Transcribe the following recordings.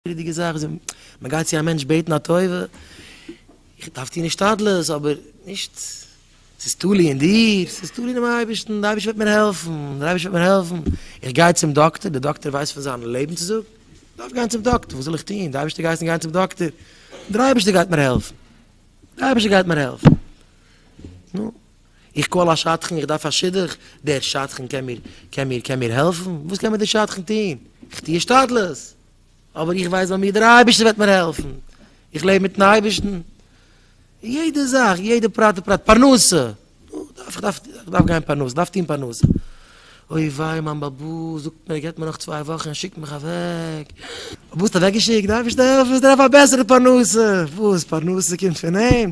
ריכטיגע זאך איז ווען מען גייט צו א מענטש בעטן א טובה, איך דארף טון השתדלות אבער נישט ס'איז תלוי אין דיר, ס'איז תלוי אינעם אייבערשטן, דער אייבערשטער וועט מיר העלפן, דער אייבערשטער וועט מיר העלפן, איך גיי צום דאקטער, דער דאקטער ווייסט פון זיין לעבן צו זאגן, איך דארף גיין צום דאקטער, וואס זאל איך טון, דער אייבערשטער גייסן גיין צום דאקטער, דער אייבערשטער גייט מיר העלפן, דער אייבערשטער גייט מיר העלפן, נו. איך קאל א שדכן איך דארף א שידוך, דער שדכן קען מיר קען מיר קען מיר העלפן? וואס קען מיר דער שדכן טון? איך טו השתדלות, אבער איך ווייס ביי מיר דער אייבערשטער וועט מיר העלפן, איך לעב מיטן אייבערשטן, יעדע זאך, יעדע פרט ופרט, פרנסה, נו, איך דארף איך דארף גיין פרנסה, איך דארף טון פרנסה, אוי וויי מיין באבא זאגט מיר ער געבט מיר נאך צוויי וואכן ער שיקט מיך אוועק, באבא האסט אוועק געשיקט? דער אייבערשטער העלפן, איך דארף א בעסערע פרנסה, וואס פרנסה קומט פון אים?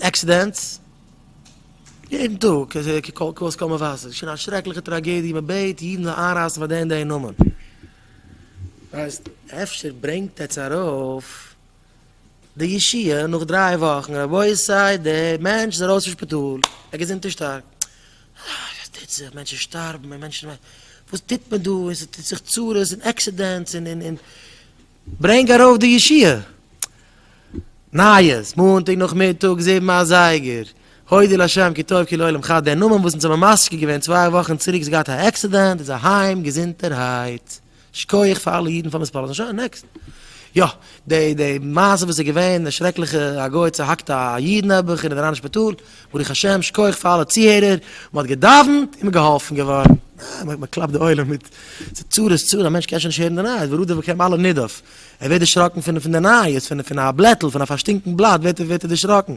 עקסידענטס יעדן טאג, כקול קול'ס קול מבשר, ס'איז שוין א שרעקליכע טראגעדיע, מ'בעט אידן זאלן איינרייסן פאר די און די נאמען. הייסט, אפשר ברענגט עטס ארויף די ישועה נאך דריי וואכן, רבותי די מענטש איז ארויס פון שפיטאל, ער געזונט און שטארק, וואס טוט זיך, מענטשן שטארבן, וואס טוט מען דא, און ס'טוט זיך צרות און עקסידענטס און און און, ברענג ארויף די ישיבה נייעס, מאנטאג נאכמיטאג זיבן אזייגער, הודיע לשם כי טוב כי לעולם חי, דער נאמען וואס אונז האבן משקיע געווען צוויי וואכן צוריק איז געהאט א עקסידענט איז אהיים געזונטערהייט, שקויעך פאר אלע אידן פאר מספרם, שוין נעקסט. יא, די די מעשה וואס איז געווען, די שרעקליכע א גוי צוהאקט א איד נעבעך אין די רייניש שפיטאל. ברוך השם, שכוח פאר אלע צוהערער, מען האט געדאווענט און מען איז געהאלפן געווארן. אה, מען קלאפט די עולם מיט, ס'איז צרות איז צרות, א מענטש קען שוין נישט הערן די נייעס, ברודער ווען קען אלע נדף, ער ווערט דערשראקן פון די נייעס, פון א בלעטל, פון א פארשטינקן בלאט ווערט ער דערשראקן.